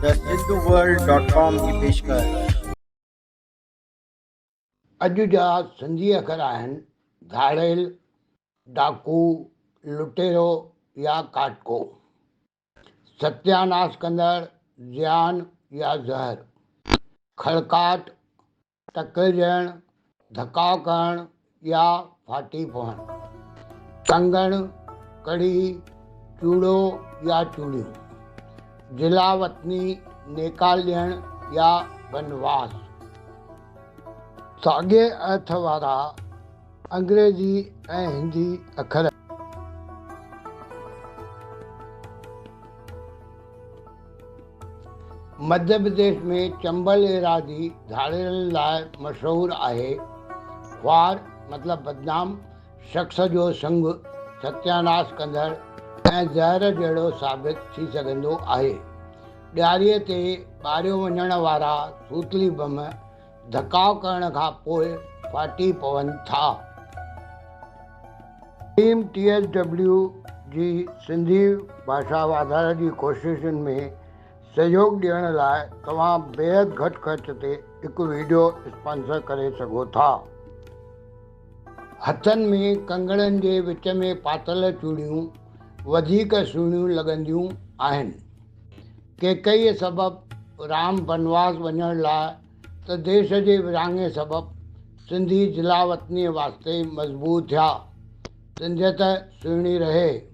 The Hindooworld dot com جي پيشڪش. اڄ جا سنڌي اکر آهن، ڌاڙيل، ڊاڪو، لٽيرو يا ڪاٽڪو. ستياناس ڪندڙ، زيان يا زهر. کڙڪاٽ، تڪلجڻ، ڌڪاء ڪرڻ يا ڦاٽي پوڻ. ٽنگڻ، ڪڙي، چوڙو يا چوڙيون. جلاوطني، نيڪال ڏيڻ يا بنواس. ساڳئي ارٿ وارا انگريزي ۽ هندي اکر. مڌيه پرديش ۾ چمبل ايراضي ڌاڙيلن لاء مشهور آهي. خوار مطلب بدنام شخص جو سڱ ستياناس ڪندڙ ۽ زهر جهڙو ثابت ٿي سگهندو آهي. ڏياري تي ٻاريو وڃڻ وارا سوتلي بم ڌڪاء ڪرڻ کان پوء ڦاٽي پون ٿا. ٽيم ٽي ايس ڊبليو جي سنڌي ڀاشا واڌاري جي ڪوششن ۾ سهيوڳ ڏيڻ لاء توهان بيحد گهٽ خرچ تي هڪ وڊيو اسپانسر ڪري سگهو ٿا. هٿن ۾ ڪنگڻن جي وچ ۾ پاتل چوڙيون وڌيڪ سهڻيون لڳنديون آهن. ڪيڪئيء سبب رام بنواس وڃڻ لاء ته ديس جي ورهاڱي سبب سنڌي جلاوطنيء واسطي مضبوط ٿيا. سنڌيت سهڻي رهي.